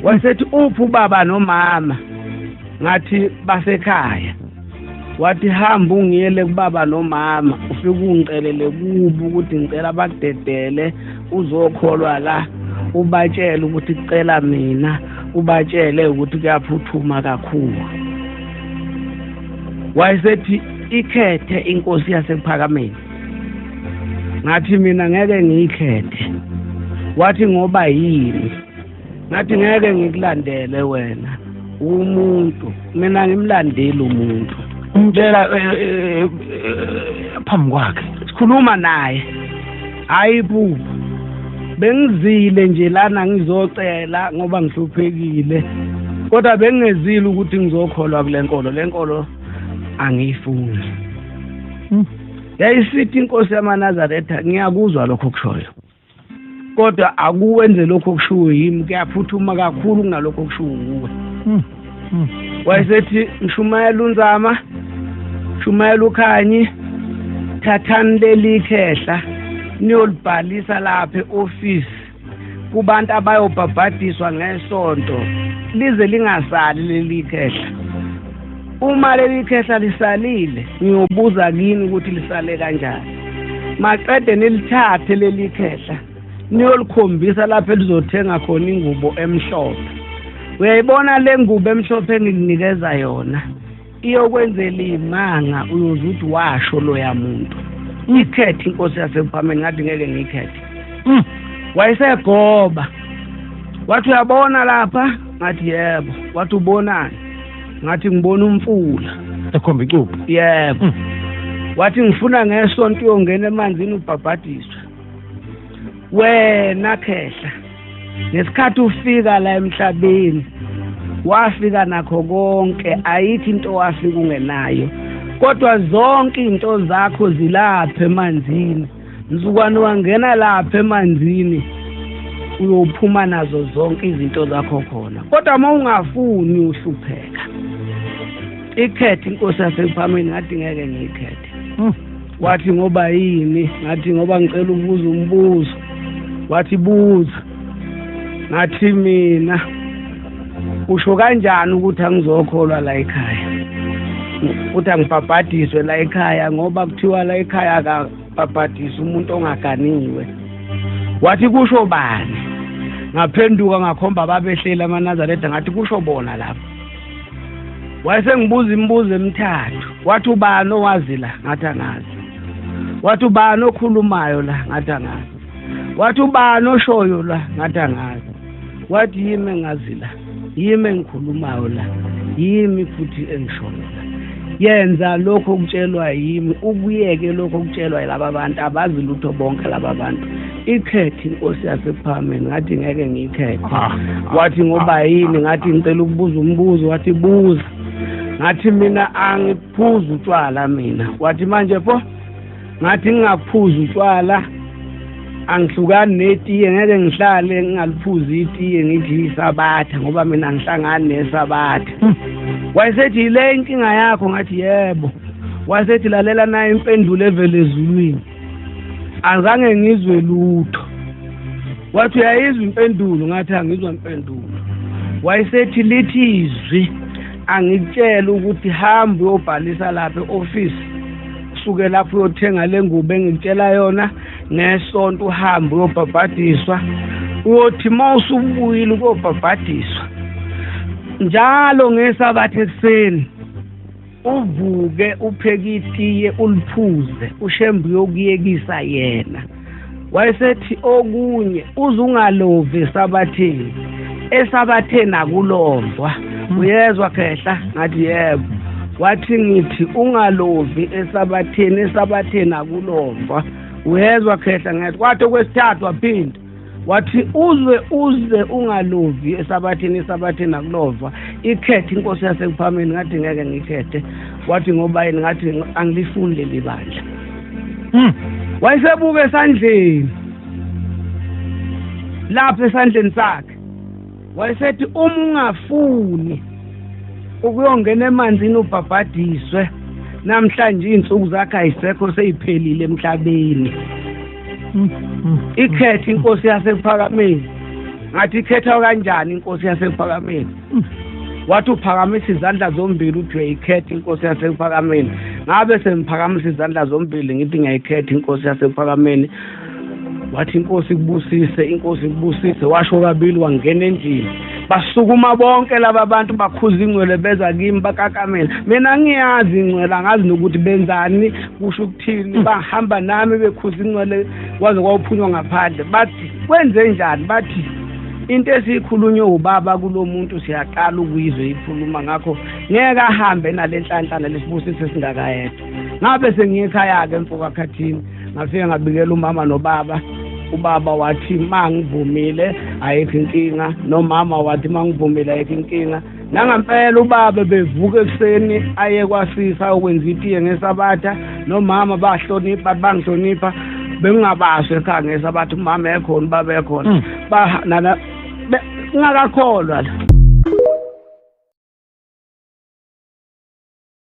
wasethi uphi ubaba nomama ngathi basekhaya wathi hamba ungiyele kubaba nomama ufike ungicelele kubo ukuthi ngicela bakudedele uzokholwa la ubatshele ukuthi cela mina ubatshele ukuthi kuyaphuthuma kakhulu wayesethi ikhethe inkosi yasekuphakameni ngathi mina ngeke ngiyikhethe wathi ngoba yini ngathi ngeke ngikulandele wena umuntu mina ngimlandile umuntu ngitshela eh, eh, eh, phambi kwakhe sikhuluma naye hayi bubu bengizile nje lana ngizocela ngoba ngihluphekile kodwa bengingezile ukuthi ngizokholwa kule nkolo le nkolo angiyifuni hmm. yayisithi inkosi yamanazaretha ngiyakuzwa lokho kushoyo kodwa akuwenze lokho okushiwo yimi kuyaphuthuma kakhulu kunalokho okushiwo nguwe hmm. hmm. wayesethi mshumayela unzama shumayela ukhanyi thathani leli khehla niyolibhalisa lapha e-ofisi kubantu abayobhabhadiswa ngesonto lize lingasali leli khehla uma leli khehla lisalile ngiyobuza kini ukuthi lisale kanjani maqede nilithathe leli khehla niyolikhombisa lapho elizothenga khona ingubo emhlophe uyayibona le ngubo emhlophe engikunikeza yona iyokwenzela imanga uyoze uthi washo loya muntu mm. ikhethe inkosi yasekuphambeni ngathi ngeke ngiyikhethe mm. wayesegoba wathi uyabona lapha ngathi yebo wathi ubonani ngathi ngibona umfula ekhomba icubu yebo mm. wathi ngifuna ngesonto uyongena emanzini ubhabhadiswe wena khehla ngesikhathi ufika la emhlabeni wafika nakho konke ayithi into wafika ungenayo kodwa zonke izinto zakho zilapha emanzini mzukwane wangena lapha emanzini uyophuma nazo zonke izinto zakho khona kodwa uma ungafuni uhlupheka ikhethe inkosi yasekuphambeni ngathi ngeke ngiyikhethe hmm. wathi ngoba yini ngathi ngoba ngicela ukubuza umbuzo wathi buza ngathi mina usho kanjani ukuthi angizokholwa la ekhaya ukuthi angibhabhadiswe la ekhaya ngoba kuthiwa la ekhaya akabhabhadisi umuntu ongaganiwe wathi kusho bani ngaphenduka ngakhomba babehleli amanazaretha ngathi kusho bona lapho wayesengibuza imibuzo emithathu wathi ubani owazi la ngathi angazi wathi ubani okhulumayo la ngathi angazi wathi ubani oshoyo la ngathi angazi wathi yimi engazi la yimi engikhulumayo la yimi futhi engishoyo la yenza lokho okutshelwa yimi ukuyeke lokho okutshelwa yilaba bantu abazi lutho bonke laba bantu ikhethe inkosi yasephalameni ngathi ngeke ngiyikhethe ah, ah, wathi ngoba ah, yini ngathi ngicela ukubuza umbuzo wathi buza ngathi mina angiphuzi utshwala mina wathi manje pho ngathi ngingaphuza utshwala angihlukani netiye ngeke ngihlale ngingaliphuzi itiye ngithi isabatha ngoba mina ngihlangani nesabatha hmm. wayesethi yile inkinga yakho ngathi yebo wayesethi lalela naye impendulo evele ezulwini azange ngizwe lutho wathi uyayizwa impendulo ngathi angizwa impendulo wayesethi lithi izwi angikutshela ukuthi hambe uyobhalisa lapha e-ofisi suke lapho uyothenga le ngubo engikutshela yona ngesonto uhambe uyobhabhadiswa uyothi uma usubuyile ukuyobhabhadiswa njalo ngesabatha ekuseni uvuke upheke itiye uliphuze ushembe uyokuyekisa yena wayesethi okunye uzungalovi esabatheni esabatheni akulovwa uyezwa khehla ngathi yebo wathi ngithi ungalovi esabatheni esabatheni akulovwa uyezwa khehla ngathi kwathi okwesithathu waphinda wathi uzwe uze ungalovi esabathini esabathini akulova ikhethe inkosi yasekuphameni ngathi ngeke ngikhethe wathi ngoba yini ngathi angilifuni leli bandla hmm. wayesebuka esandleni lapha esandleni sakhe wayesethi uma ungafuni ukuyongena emanzini ubhabhadiswe namhlanje iy'nsuku zakhe ayisekho seyiphelile emhlabeni hmm. Hmm. ikhethe inkosi yasephakameni ngathi ikhethwa kanjani inkosi yasephakameni wathi uphakamisa izandla zombili uthi ikhetha inkosi yasekuphakameni ngabe sengiphakamisa izandla zombili ngithi ngiyayikhetha inkosi yasekuphakameni wathi inkosi kubusise inkosi kubusise washo kabili wangena endlini basukuma bonke laba bantu bakhuza ingcwele beza kimi bakakamela mina ngiyazi ingcwele angazi nokuthi benzani kusho ukuthini hmm. bahamba nami bekhuza ingcwele kwaze kwawuphunywa ngaphandle bathi kwenze njani bathi into esiyikhulunywe ubaba kulomuntu siyaqala ukuyizwe ikhuluma ngakho ngeke ahambe nalenhlanhlana lesibusiso singakayedwa ngabe sengiyekhaya ke mfoka khathini ngafike ngabikela umama nobaba ubaba wathi mangivumile ayikho inkinga nomama wathi mangivumile ayikho inkinga nangampela ubaba bevuka ekuseni aye kwasisa ukwenza itiye ngesabatha nomama bahlonipha bangihlonipha bengingabazi ekhaya ngesabatha umama ekhona ubaba ekhona hmm. ba nana ngingakakholwa la